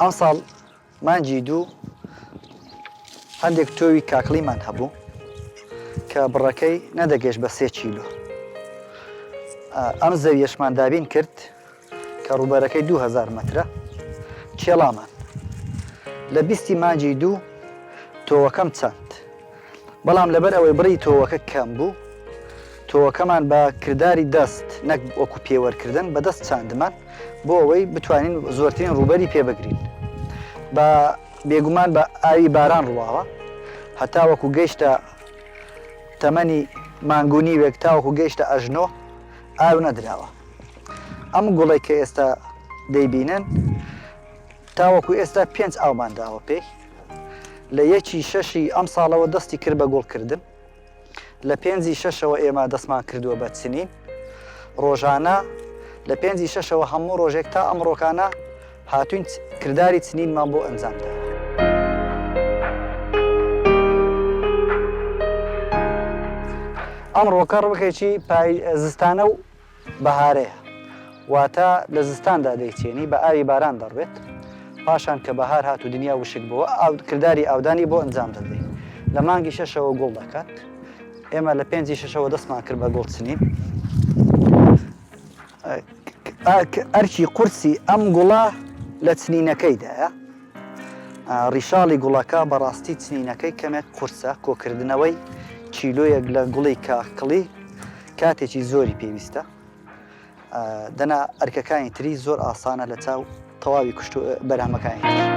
ئەمساڵ مانگی دوو هەندێک تۆوی کاکڵیمان هەبوو کە بڕەکەی نەدەگەشت بە سێ کیلو ئەم زەویەشمان دابین کرد کە ڕووبەرەکەی 2000 مترە کێڵامان لە بیستی مانگی دوو تۆوەکەم چەند بەڵام لەبەر ئەوەی بڕی تۆوەکە کەم بوو، تۆوەکەمان بە کرداری دەست نەک وەکو پێوەرکردن بە دەست چاندمان بۆ ئەوەی بتوانین زۆرترین ڕووبەری پێ بگرین. بە بێگومان بە ئاوی باران ڕواوە هەتا وەکو گەیشتە تەمەنی مانگ و نیوێک تاوەکو گەیشتە ئەژنۆ ئاو نەدراوە. ئەم گوڵەی کە ئێستا دەیبینن تاوەکو ئێستا پێنج ئاومان داوە پێی. لە یەکی شەشی ئەمساڵەوە دەستی کرد بە گوڵکردن لە پێنجی شەشەوە ئێمە دەستمان کردووە بە چنین ڕۆژانە لە پێنجی شەشەوە هەموو ڕۆژێک تا ئەمڕۆکانە هاتوین کردداری چنینمان بۆ ئەنجامدا. ئەم ڕۆکە ڕۆکێکی زستانە و بەهارەیە واتە لە زستاندا دەیچێنی بە ئاوی باران دەڕوێت پاشان کە بەهار هات و دنیا وشک بووە ئاو کردداری ئاودانی بۆ ئەنجام دەدرێت لە مانگی شەشەوە گوڵ دەکات ئێمە لە پێنجی شەشەوە دەستمان کرد بە گوڵ چنین ئەرکی قورسی ئەم گوڵە لە چنینەکەیدایە ڕیشاڵی گوڵەکە بەڕاستی چنینەکەی کەمێک قورسە کۆکردنەوەی کیلۆیەک لە گوڵی کاکڵی کاتێکی زۆری پێویستە دەنا ئەرکەکانی تری زۆر ئاسانە لە چاو تەواوی کوشت و بەرهەمەکانی تر.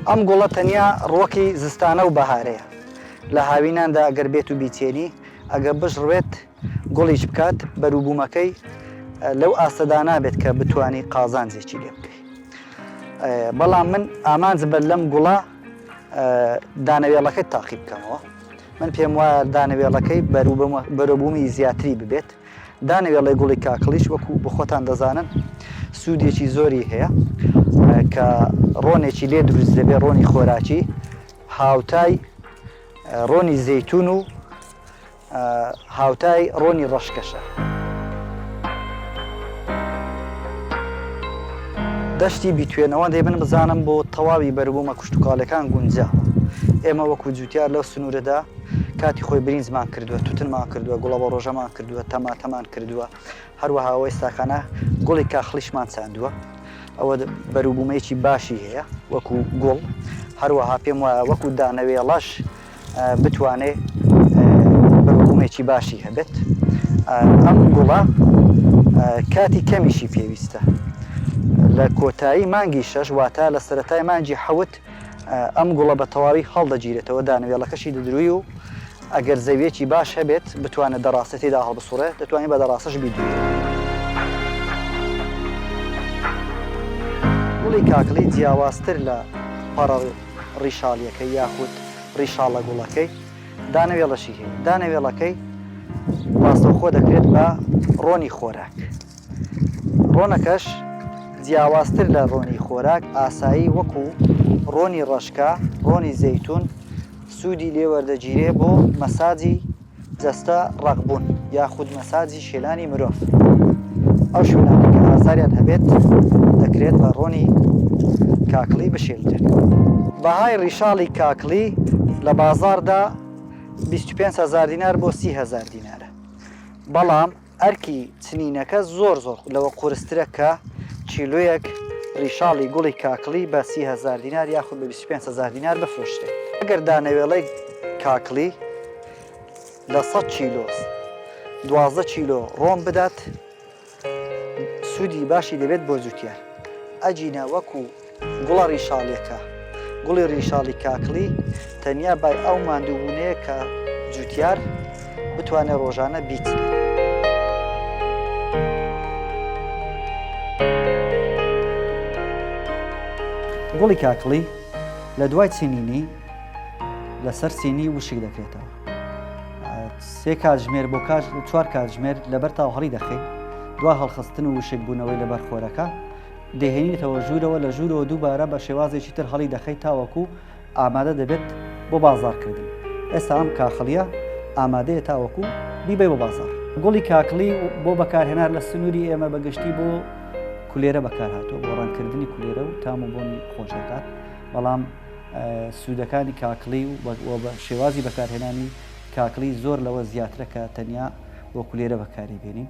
ئەم گوڵە تەنیا ڕوەکی زستانە و بەهارەیە لە هاویناندا ئەگەر بێت و بیچێنی ئەگە بشڕوێت گوڵیش بکات، بەروبوومەکەی لەو ئاستەدا نابێت کە بتوانی قازانجێکی لێ بکەی. بەڵام من ئامانج بەر لەم گوڵە دانەوێڵەکەی تاقی بکەمەوە. من پێم وایە دانەوێڵەکەی بەرەبوومی زیاتری ببێت. دانەوێڵی گوڵی کاکڵیش وەکو بخۆتان دەزانن سوودێکی زۆری هەیە کە ڕۆنێکی لێ دروست دەبێت ڕۆنی خۆراکی هاوتای ڕۆنی زەیتون و هاوتای ڕۆنی ڕەشکەشە. دەشتی بیتوێنەوە دەی من بزانم بۆ تەواوی بەروبوومە کوشتوکاڵەکان گونجاوە ئێمە وەکو جوتیار لەو سنوورەدا کاتی خۆی برینزمان کردووە توتنمان کردووە گوڵەوە ڕۆژەمان کردووە تەماتەمان کردووە هەروەها ئێستاکانە گوڵی کاخلیشمان چاندووە ئەوە بەروبوومەیەکی باشی هەیە وەکو گوڵ هەروەها پێم وایە وەکو دانەوێڵەش بتوانێت بەروبومێکی باشی هەبێت ئەم گوڵە کاتی کەمیشی پێویستە لە کۆتایی مانگی شەش واتە لە سەتای مانجی حەوت ئەم گوڵە بە تەواوی هەڵدەگیرێتەوە دانوێڵەکەشی دەدروی و ئەگەر زەویەکی باش هەبێت بتوانێت دەڕاستێتیدا هەڵبسوڕێت دەتوانانی بە دەڕاستش بیدوێت گوڵی کاکڵی جیاوازتر لە پەڕەڵ ڕیشاڵیەکەی یاخود ڕیشاڵە گوڵەکەی دانەوێڵەشی هەیە دانەوێڵەکەی ڕاستەوخۆ دەکرێت بە ڕۆنی خۆراک ڕۆنەکەش جیاوازتر لە ڕۆنی خۆراک ئاسایی وەکو ڕۆنی ڕەشکە ڕۆنی زەیتون سوودی لێوەردەگیرێ بۆ مەساجی جەستە ڕەق بوون یاخود مەساجی شێلانی مرۆڤ ئەو شوێنانی کە ئازاریان هەبێت دەکرێت بە ڕۆنی کاکڵی بشێلدرێت بەهای ڕیشاڵی کاکڵی لە بازاردا 25 هزار دینار بۆ 30 هزار دینارە بەڵام ئەرکی چنینەکە زۆر زۆر لەوە قورسترە کە کیلۆیەک ڕیشاڵی گوڵی کاکڵی بە سی هەزار دینار یاخود بە 25 هەزار دینار بفرۆشرێت ئەگەر دانەوێڵەی کاکڵی لە 100 کیلۆ دوازدە کیلۆ ڕۆم بدات سوودی باشی دەبێت بۆ جوتیار ئەجینە وەکو گوڵە ڕیشاڵیەکە، گوڵی ڕیشاڵی کاکڵی تەنیا بای ئەو ماندووبوونەیە کە جووتیار بتوانێت ڕۆژانە بیچنێت. گوڵی کاکڵی لە دوای چینینی لەسەر سینی وشک دەکرێتەوە. سێ کاتژمێر بۆ کاش چوار کاتژمێر لەبەر تاوهڕی دەخەین دوا هەڵخستن و وشکبوونەوەی لەبەر خۆرەکە دەیهێنیتەوە ژوورەوە، لە ژوورەوە دووبارە بە شێوازێکی تر هەڵی دەخەیت تاوەکو ئامادە دەبێت بۆ بازاڕکردن. ئێستا ئەم کاخڵییە ئامادەیە تاوەکو بیبەی بۆ بازاڕ. گوڵی کاکڵی بۆ بەکارهێنار لە سنووری ئێمە بە گشتی بۆ کولێرە بەکارهاتووە، بۆ ڕەنگکردنی کولێرە و تام و بۆنی خۆش دەکات، بەڵام سوودەکانی کاکڵی و شێوازی بەکارهێنانی کاکڵی زۆر لەوە زیاترە کە تەنیا بۆ کولێرە بەکاری بێنین.